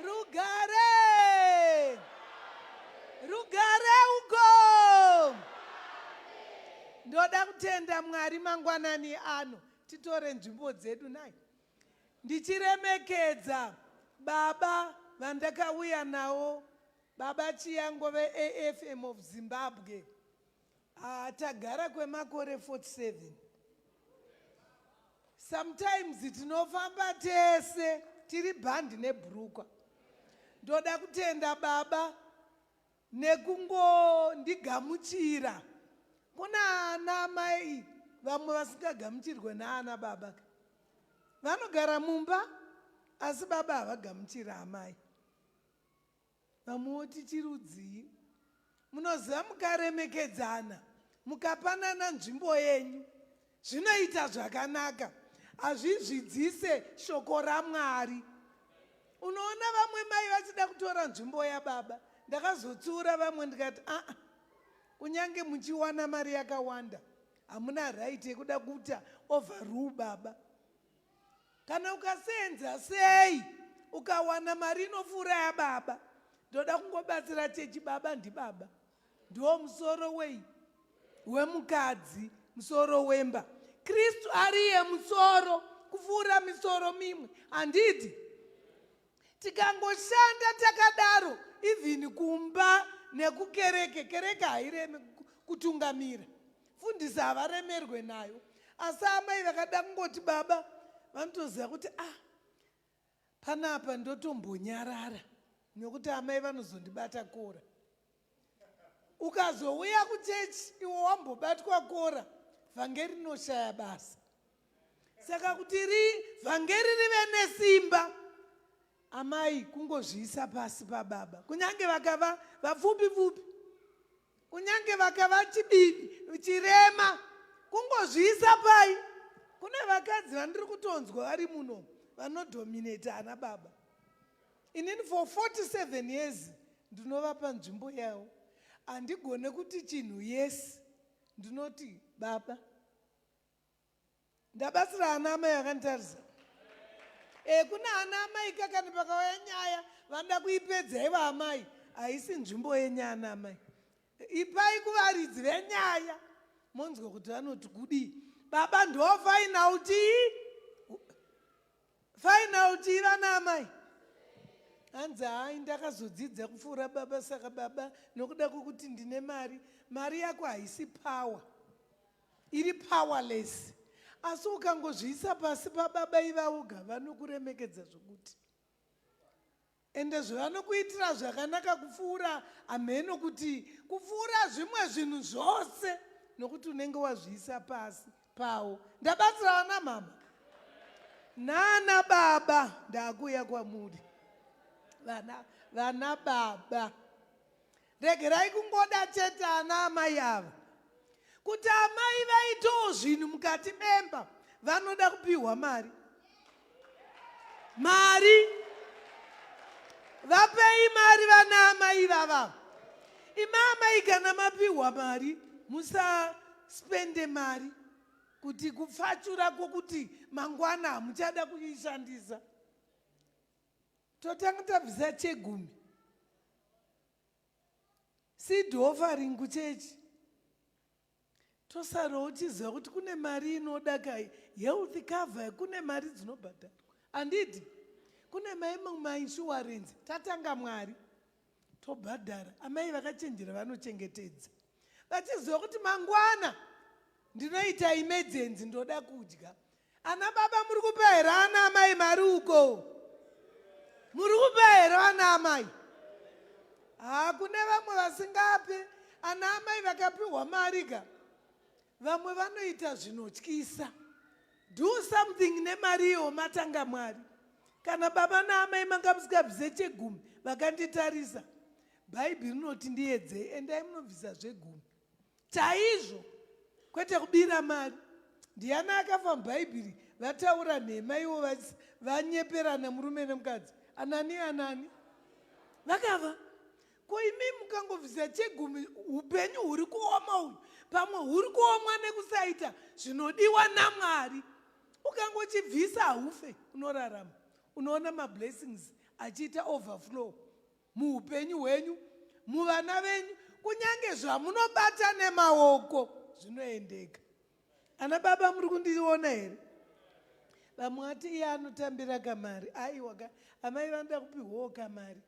Rugare! Rugare uko! Ndoda kutenda Mwari mangwanani ano titore nzvimbo dzedu nai. Ndichiremekedza baba vandakauya nawo baba Chiyango veAFM of Zimbabwe. Haa tagara kwemakore 47. Sometimes tinofamba tese tiri bhandi nebhurukwa. Ndoda kutenda baba nekungondigamuchira. Kuna ana amai vamwe vasingagamuchirwe naana baba ka. Vanogara mumba asi baba havagamuchira amai. Vamwe voti chirudzii? Munoziva mukaremekedzana mukapanana nzvimbo yenyu zvinoita zvakanaka hazvizvidzise shoko ramwari unoona vamwe mai vachida kutora nzvimbo yababa ndakazotsiura vamwe ndikati aa ah, ah, kunyange muchiwana mari yakawanda hamuna right yekuda kuita overrule baba kana ukasenza sei ukawana mari inopfuura yababa ndoda kungobatsira chechi baba ndibaba ndiwo musoro wei wemukadzi musoro wemba kristu ariye musoro kupfuura misoro mimwe handidi tikangoshanda takadaro even kumba nekukereke kereke haireme kutungamira fundisi havaremerwe nayo asi amai vakada kungoti baba vanotoziva kuti ah panapa ndotombonyarara nekuti amai vanozondibata kora ukazouya kuchechi iwo wambobatwa kora vhangeri rinoshaya basa saka kuti ri vhangeri rive nesimba amai kungozviisa pasi pababa kunyange vakava vapfupi pfupi kunyange vakava chibibi chirema kungozviisa pai kune vakadzi vandiri kutonzwa vari muno vanodominate ana baba inini for 47 years ndinovapa nzvimbo yavo handigone kuti chinhu yes ndinoti baba ndabatsira ana amai akanditarisa e eh, kuna ana amai ka kana pakauya nyaya vanoda kuipedza ivo amai haisi nzvimbo yenyaya ana amai ipai kuvaridzi venyaya monzwa kuti vanoti kudii baba ndofaina utii Final tii vana amai. Hanzi hayi ndakazodzidza kupfuura baba saka baba nokuda kwokuti ndine mari, mari yako haisi power. Iri powerless. Asi ukangozviisa pasi pababa ivavo ga vanokuremekedza zvokuti. Ende zvevanokuitira zvakanaka kupfuura hamheno kuti kupfuura zvimwe zvinhu zvose nokuti unenge wazviisa pasi pawo. Ndabatsira vana mama nana baba ndakuuya kwamuri vana vana baba Regerai kungoda chete ana amai ava kuti amai vaitewo zvinhu mukati memba vanoda kupihwa mari mari vapei mari vana amai vava imaamai kana mapihwa mari musaspende mari kuti kupfachura kwokuti mangwana hamuchada kuishandisa totanga tabvisa chegumi seed offering kuchechi tosara uchiziva kuti kune mari inoda kai health cover kune mari dzinobhadharwa handidi kune maimwe mainsurance tatanga mwari tobhadhara amai vakachenjera vanochengetedza vachiziva kuti mangwana ndinoita imedzenzi ndoda kudya ana baba muri kupa here ana amai mari uko muri kupa here vana amai haa kune vamwe vasingape ana amai vakapiwa mari ka vamwe vanoita zvinotyisa Do something nemari iyo matanga mwari. Kana baba naamai manga musikabvise chegumi vakanditarisa. Bhaibheri rinoti ndiyedze endai munobvisa zvegumi. Chaizvo kwete kubira mari. Ndiana akafa mubhaibheri vataura nhema ivo vanyeperana murume nemukadzi. Anani anani. Vakava. Ko imi mukangovhiza chegumi upenyu huri kuoma uyu pamwe huri kuomwa nekusaita zvinodiwa namwari ukangochibvisa haufe unorarama unoona mablessings achiita overflow muupenyu hwenyu muvana venyu kunyange zvamunobata nemaoko zvinoendeka ana baba muri kundiona here vamwe vati iye anotambira kamari aiwa ka amai vanoda kupiwawo kamari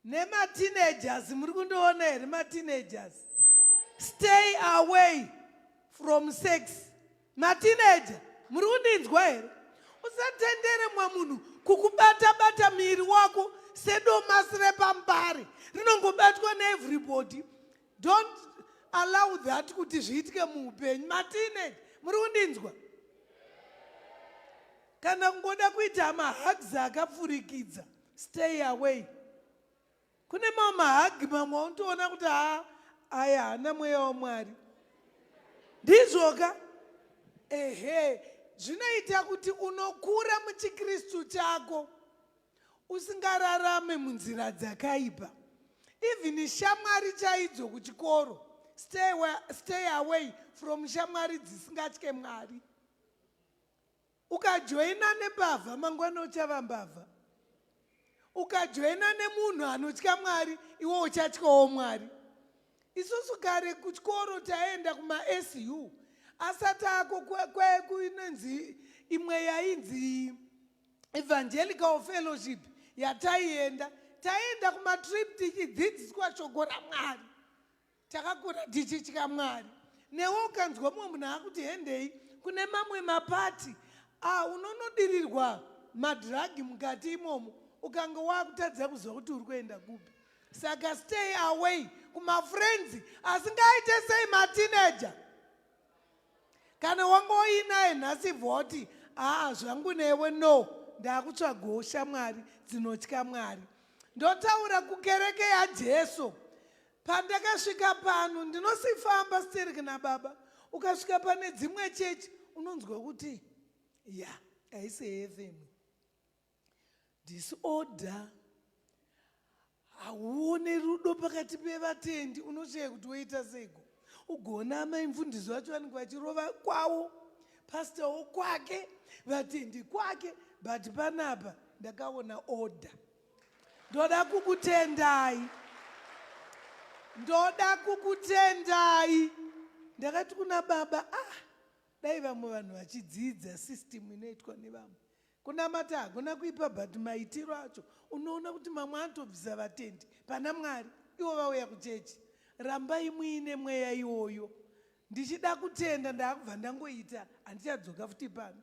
Nema teenagers muri kundiona here ma teenagers? Stay away from sex. Ma teenager muri kundinzwa here? Usatendere mwa munhu kukubata bata miri wako sedomasi repambare rinongobatwa ne everybody. Don't allow that kuti zviitike muupenyu. Ma teenager muri kundinzwa? Kana kungoda kuita mahugs akapfurikidza stay away kune mamwe mahagi mamwe aunotoona kuti haa aya haana mweya wamwari ndizvoka ehe zvinoita kuti unokura muchikristu chako usingararame munzira dzakaipa even shamwari chaidzo kuchikoro stay, stay away from shamwari dzisingatye mwari Ukajoina nembavha mangwana uchava mbavha. Ukajoina nemunhu anotya Mwari iwe uchatyawo Mwari. Isusu kare kuchikoro taienda kumaSU asati ako kwekuinonzi imwe yainzi evangelical fellowship yataienda taienda kumatrip tichidzidziswa shoko ramwari Takakura tichitya Mwari. Newe ukanzwa mumwe munhu akuti hendei kune mamwe mapati ah, unonodirirwa madhiragi mukati imomo ukanga wakutadza kuziva kuti uri kuenda kupi. Saka stay away kumafrenzi asingaite sei matineja. Kana wanga uinaye nhasi vhoti aa ah, zvangu newe no ndakutsvagawo shamwari dzinotya Mwari. Ndotaura kukereke yaJesu. Pandakasvika pano ndinosifamba sterek nababa ukasvika pane dzimwe chechi unonzwa kuti ya haisi heaven disorder hauone rudo pakati pevatendi unoshaya kuti woita seiko ugoona amai mfundisi vacho vanenge vachirova kwavo pastowo kwake vatendi kwake but panapa ndakaona order Ndoda kukutendai. Ndoda kukutendai. Ndakati kuna baba, ah, dai vamwe vanhu vachidzidza system inoitwa nevamwe. Kunamata hakuna kuipa but maitiro acho unoona kuti mamwe anotobvisa vatendi pana Mwari ivo vauya kuchechi. Rambai muine mweya iwoyo. ndichida kutenda ndaakubva ndangoita handichadzoka futi pano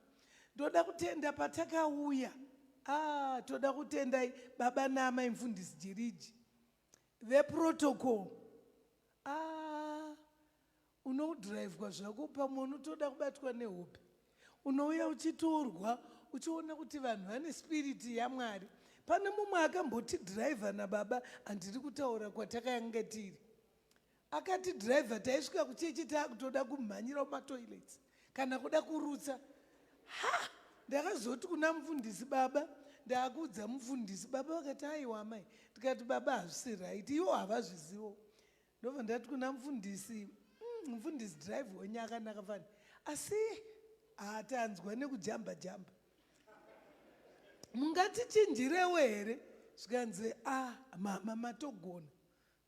ndoda kutenda patakauya ah, toda kutendai baba naamai mfundisi jiriji veprotocol ah, unodhiraivhwa zvako pamwe unotoda kubatwa nehope unouya uchitorwa uchiona kuti vanhu vane spiriti yamwari pane mumwe akambotidhiraivha nababa handiri kutaura kwatakanga tiri Akati driver taisvika kuchechi takutoda kumhanyira mumatoilets kana kuda kurutsa. Ha! Ndakazoti kuna mufundisi baba ndakuudza mufundisi baba vakati aiwa amai ndikati baba hazvisi right iwo havazvizivo ndobva ndati kuna mufundisi mm, mufundisi drive wenyu akanaka fani asi hatanzwa nekujamba jamba mungatichinjirewo here zvikanzi a ah, mama matogona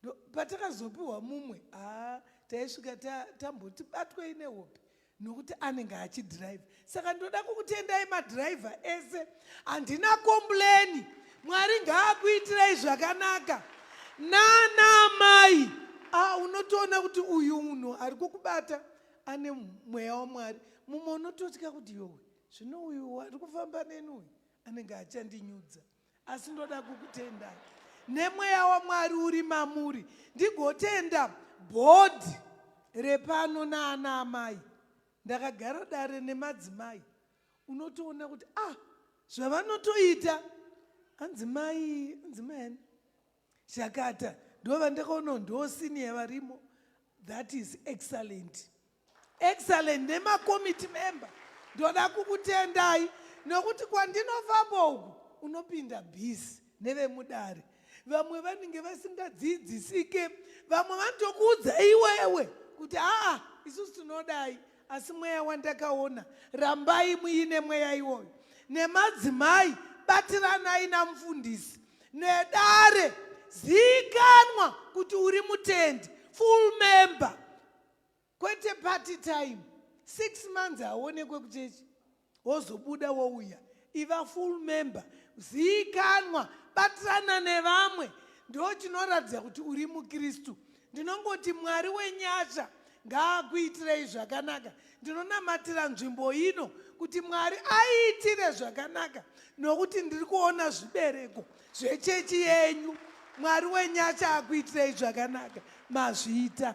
Ndo patakazopiwa mumwe haa taisvika ta, tamboti batwei nehope nokuti anenge achidhiraivha saka ndoda kukutendai madhiraivha ese handina kombureni mwari ngaakuitirei zvakanaka nana mai ah, unotoona kuti uyu munhu ari kukubata ane mweya wamwari mumwe unototya kuti yowe zvino uyu ari kufamba neni uyu anenge achandinyudza asi ndoda kukutenda nemweya wamwari uri mamuri ndigotenda bhodhi repano naana amai ndakagara dare nemadzimai unotoona kuti ah zvavanotoita hanzi mai hanzi mai ani chakata ndova ndakaona ndosiniya varimo that is excellent Excellent nemakomiti member ndoda kukutendai nokuti kwandinofamba uku unopinda busy nevemudare vamwe vanenge vasingadzidzisike vamwe vanotokuudza iwewe kuti aa isusu tinodai asi mweya wandakaona rambai muine mweya iwoyo nemadzimai batiranai namufundisi nedare ziikanwa kuti uri mutendi full member kwete party time six months haonekwe kuchechi wozobuda wouya iva full member ziikanwa batirana nevamwe ndo chinoratidza kuti uri mukristu ndinongoti mwari wenyasha ngaakuitirei zvakanaka ndinonamatira nzvimbo ino kuti mwari aiitire zvakanaka nokuti ndiri kuona zvibereko zvechechi yenyu mwari wenyasha akuitirei zvakanaka mazvita